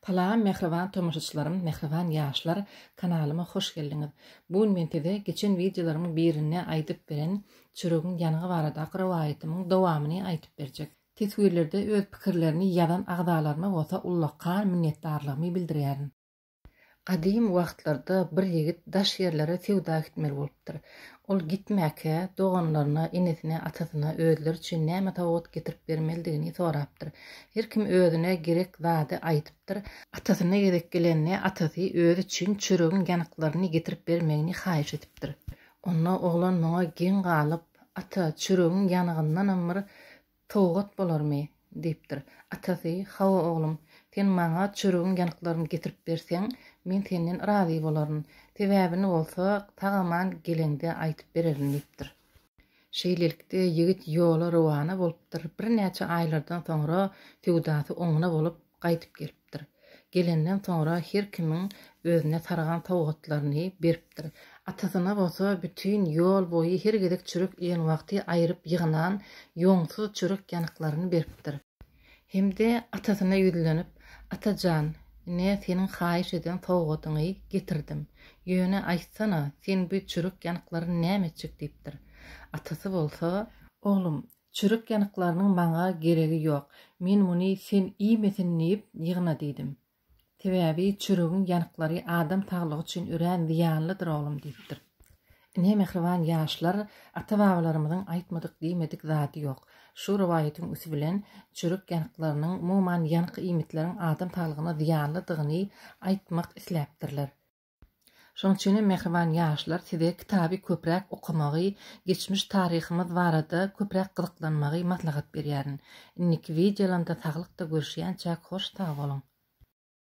Salam mähriban tomaşaçylarym mähriban ýaşlar kanalyma hoş geldiňiz bu gün men size geçen wideolarymyň birinde aýdyp beren çöregiň ýanygy baradaky rowaýatymyň dowamyny aýdyp berjek teswirlerde öz pikirlerini ýazan agzalaryma bolsa ullakan minnetdarlygymy bildirýärin. Gadym wagtlarda bir ýigit daş ýerlere söwda gitmeli bolupdyr. Ol gitmäkä, doganlaryna, enesine, atasyna özleri üçin näme sowgat getirip bermelidigini sorapdyr. Her kim özüne gerek zady aýdypdyr. Atasyna gezek gelende, atasy özi üçin çöregiň ýanyklaryny getirip bermegini haýyş edipdir. Onda oglan muňa geň galyp, Ata, çöregiň ýanygyndanam bir Sowgat bolarmy? diýipdir. Atasy, Hawa, oglum, sen maňa çöregiň ýanyklaryny getirip berseň, men senden razy bolaryn. Sebäbini bolsa, sag-aman geleňde aýdyp bererin diýipdir. Şeýlelikde, ýigit ýola rowana bolupdyr. Birnäçe aýlardan soňra söwdasy oňuna bolup, gaýdyp gelipdir. Gelenden soňra her kimiň özüne sargan sowgatlaryny beripdir. Atasyna bolsa bütin ýol boýy her gezek çörek iýen wagty aýryp ýygnan ýoňsuz çörek ýanyklaryny beripdir. Hem-de atasyna ýüzlenip, Ata jan, ine, seniň haýyş eden sowgadyňy getirdim. Ýöne, aýtsana, sen bu çörek ýanyklaryny näme etjek? diýipdir. Atasy bolsa. Oglum, Çörek ýanyklarynyň maňa geregi ýok. Men muny sen iýmesin diýip ýygna diýdim. Sebäbi çöregiň ýanyklary adam saglygy üçin örän zyýanlydyr oglum diýipdir. Ine mähriban ýaşlar ata-babalarymyzyň aýtmadyk diýmedik zady ýok. Şu rowaýatyň üsti bilen çörek ýanyklarynyň umuman ýanyk iýmitleriň adam saglygyna zyýanlydygyny aýtmak isläpdirler. Şoň üçin hem mähriban ýaşlar size kitaby köpräk okamagy, geçmiş taryhymyz barada köpräk gyzyklanmagy maslahat berýärin. Indiki wideolamda saglykda görüşýänçäk hoş sag boluň.